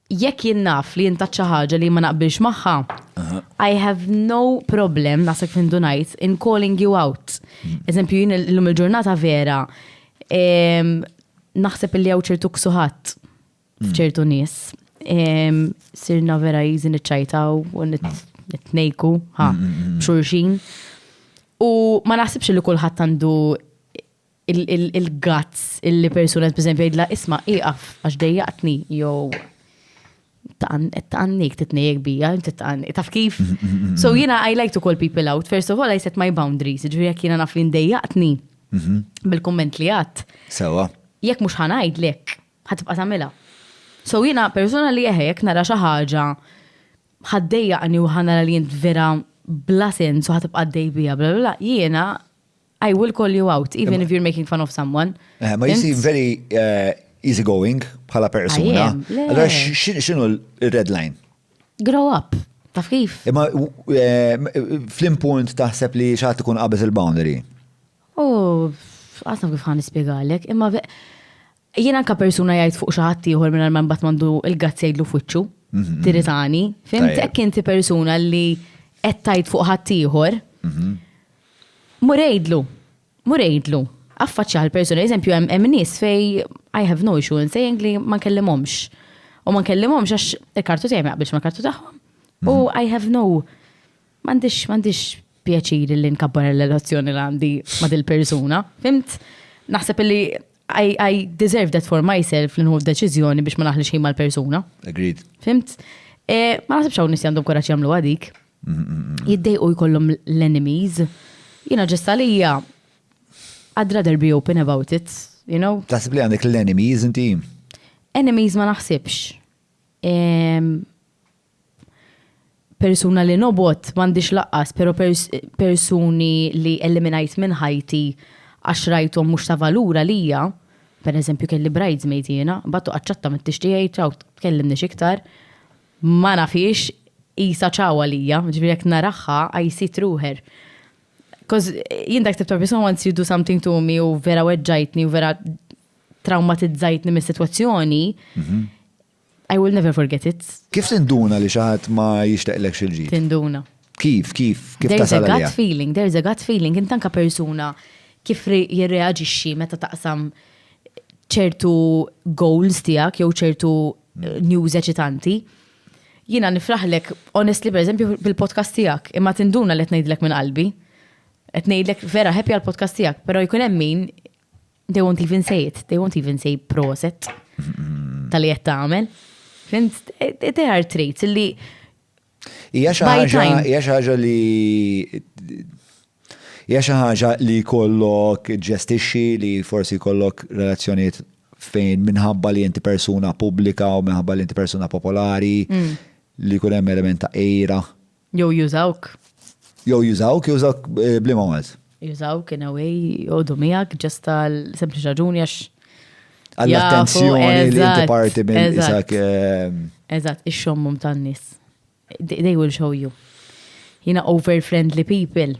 jekk jien naf li jintat xi ħaġa li ma naqbilx magħha, I have no problem, naħseb fin dunajt, in calling you out. Mm. Eżempju, jien l-lum il-ġurnata vera, naħseb li għaw ċertu ksuħat mm. ċertu nis. Sirna vera jizi nitċajtaw u nitnejku, ha, mm, xurxin. U ma naħsibx li kullħat għandu il-guts illi persuna b'eżempju jgħidla isma' ieqaf għax dejjaqtni jew taqannik titnejjek bija, inti taqannik, taf kif? So jiena I like to call people out, first of all I set my boundaries, ġifieri jekk jiena naf li ndejjaqtni bil-kumment li għadd. Sewa. Jekk mhux ħanajdlek, ħatibqa' tagħmilha. So jiena persuna li eħe jekk nara xi ħaġa ħaddejjaqni u ħanara li jint vera bla sens u ħatibqa' dej bija bla bla jiena I will call you out, even if you're making fun of someone. Eh, ma jisi very uh, easy going bħala persuna. Allora xinu l-red line? Grow up. Taf kif? Imma eh, flim punt taħseb li xaħat ikun qabes il-boundary. Oh, għasna kif ħan ispiegalek, imma Jien anke persuna jgħid fuq xi ħadd ieħor mingħajr ma mbagħad m'għandu l-gazz jgħidlu f'wiċċu, mhm. tiritani. Fimt hekk inti persuna li qed tgħid fuq ħadd ieħor. Mhm. Mur għidlu, mur għidlu. Affaċċja l-persuna, eżempju hemm nies fej I have no issue in saying li ma nkellimhomx. U ma nkellimhomx għax il-kartu tiegħi ma jaqbilx ma kartu tagħhom. U mhm. I have no M'għandix, m'għandix pjaċir li nkabbar il-relazzjoni li għandi ma' dil-persuna. Fimt? Naħseb li I, I deserve that for myself li nħu deċiżjoni biex ma naħli xejn mal-persuna. Agreed. Fimt? E, ma naħsibx hawn nies għandhom kuraġġ jagħmlu għadik. Jiddejqu jkollhom l-enemies. Jiena ġesta lija I'd rather be open about it, you know? Taħseb li għandek l-enemies inti? Enemies ma naħsibx. persuna li nobgħod m'għandix laqqas, pero persuni li eliminajt minn ħajti għax rajthom mhux ta' valur għalija, per eżempju kelli bridesmaid jiena, mbagħad toqgħod ċatta minn tixti ej ċaw tkellimnix iktar, ma nafhiex qisha ċaw għalija, ġifieri jekk naraha I see through her. Coz jien dak it-tip ta' persuna once you do something to me u vera weġġajtni u vera trawmatizzajtni mis-sitwazzjoni, I will never forget it. Kif tinduna li xi ħadd ma jixtaqlekx il-ġid? Tinduna. Kif, kif, kif tasal għalija? There's a gut feeling, there's a gut feeling, int anka persuna kif jirreaġixxi meta taqsam ċertu goals tiegħek jew ċertu eh, news eċitanti. Jiena nifraħlek honestly pereżempju bil-podcast tiegħek, imma tinduna li qed ngħidlek minn qalbi. Qed ngħidlek vera happy għall-podcast tiegħek, però jkun hemm min They won't even say it, they won't even say proset tal-li qed tagħmel. They are traits li Hija xi ħaġa, hija xi ħaġa li hija xi ħaġa li kollok ġestixxi li forsi kollok relazzjonijiet fejn minħabba li inti persuna pubblika u minħabba li inti persuna popolari mm. li kun hemm element ta' ejra Jew jużawk. Jew jużawk, jużawk bliema Malti. Jużawk in a way, jgħodu miegħek ġest għal sempliċi raġuni għax. Għall-attenzjoni li inti parti minn isak. Eżatt, ix-xommum tan-nies. They will show you. Jina over friendly people.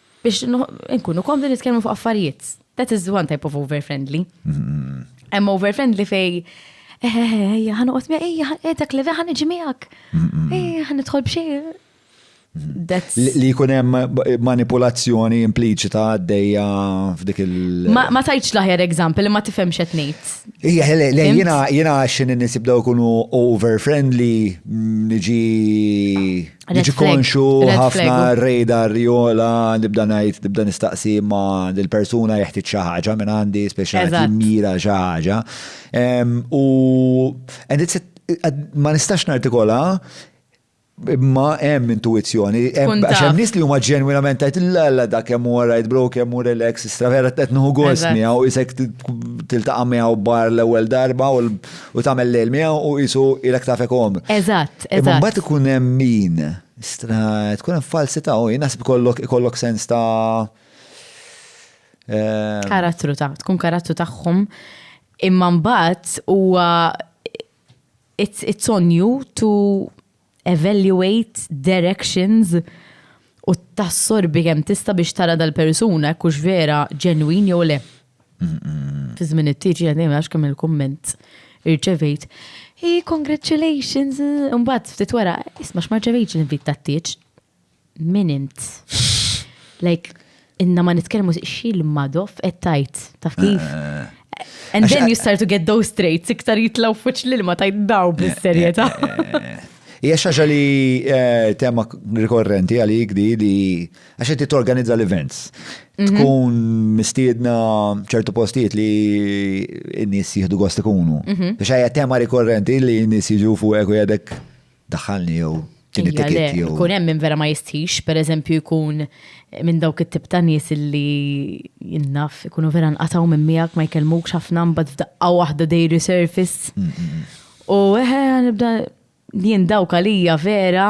Biex nkunu komdu nitkellmu fuq affarijiet. That is one type of over-friendly. Hemm over-friendly fej ejja ħan uqgħod miegħek, ejja eh, dak li ħan iġi miegħek. Ejja ħan nidħol b'xi. Li jkun hemm manipulazzjoni impliċita għaddejja f'dik il. Ma tajċ laħjar eżampel li ma tifhemx qed ngħid. Ija, jiena jiena x'in nisib daw ikunu over friendly mm, niġi Ġi konxu ħafna radar jola nibda ngħid nibda nistaqsi ma dil-persuna jeħtieġ xi ħaġa minn għandi speċjali mira xi ħaġa. U ma nistax nartikola imma hemm intuizzjoni, hemm hemm nies li huma ġenwinament tajt l-alla da kemm huwa right bro, kemm hu relax, istravera qed nħu gost miegħu isek tiltaqa' miegħu bar l-ewwel darba u U tagħmel lejl miegħu u qisu ilek tafek om. Eżatt, eżatt. Imma mbagħad ikun hemm min stra tkun hemm falsità u jnaħseb ikollok ikollok sens ta' eh, karattru ta' tkun karattru tagħhom imma mbagħad huwa it's, it's on you to evaluate their actions u tassorbi kemm tista' biex tara dal-persuna hekk hux vera ġenwin jew le. Fi żmien it-tieġi għadejn għax kemm il-kumment irċevejt. Hey, congratulations! Imbagħad ftit wara, isma' x'ma rċevejtx l-invit tat-tieġ. Min int? Like, inna ma nitkellmu xil madof qed tajt, taf kif? Eh. And then you start to get those traits, iktar jitlaw fuċ li ma tajt daw eh, bis-serjetà. Eh, Hija xaġa li tema rikorrenti għalik di li għax inti torganizza l-events. Mhm. Tkun mistiedna ċertu postijiet li n-nies jieħdu gost ikunu. Mhm. Biex hija tema rikorrenti li n-nies jiġu fuq u jadek daħalni jew tini ticket jew. Kun hemm minn vera ma jistħix, per eżempju jkun minn dawk it-tip ta' nies li jinnaf ikunu vera nqataw minn miegħek ma jkellmukx ħafna mbagħad f'daqqa waħda dej resurface. Mm, mm, mm. U eħe nibda jien dawk għalija vera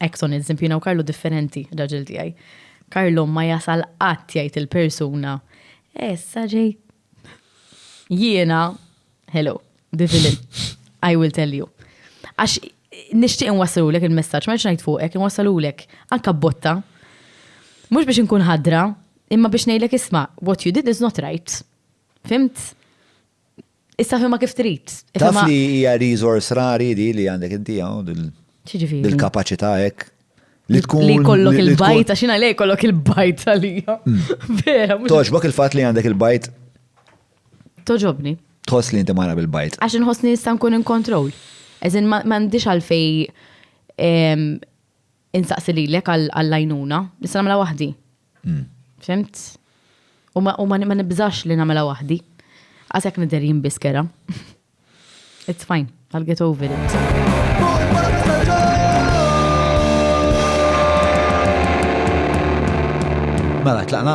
Exxon il Zimpina u Karlu differenti, raġel tiegħi. Karlu ma jasal qatt jgħid il-persuna. Essa ġej. Jiena, hello, the villain. I will tell you. Għax nixtieq inwassalulek il-messaġġ, ma ngħid fuqek, inwassalulek anka botta. Mhux biex inkun ħadra, imma biex ngħidlek isma' what you did is not right. Fimt? Issa fimma kif trid. Taf li hija resource rari di li għandek inti hawn dil-kapaċità hekk. Li tkun. Li kollok il-bajt, għaxina lej kollok il-bajt għalija. Mm. Vera. Toġbok il-fat li għandek il-bajt. Toġobni. Tħoss li inti mara bil-bajt. Għax nħoss li nista' nkun in kontrol. Eżin ma għandix għalfej insaqsi lilek għall-għajnuna, nista' nagħmilha waħdi. Hmm. Fimt? U ma nibżax li nagħmilha waħdi. Għasek nidher jien biskera. It's fine, I'll get over it. Mela, tlaqna.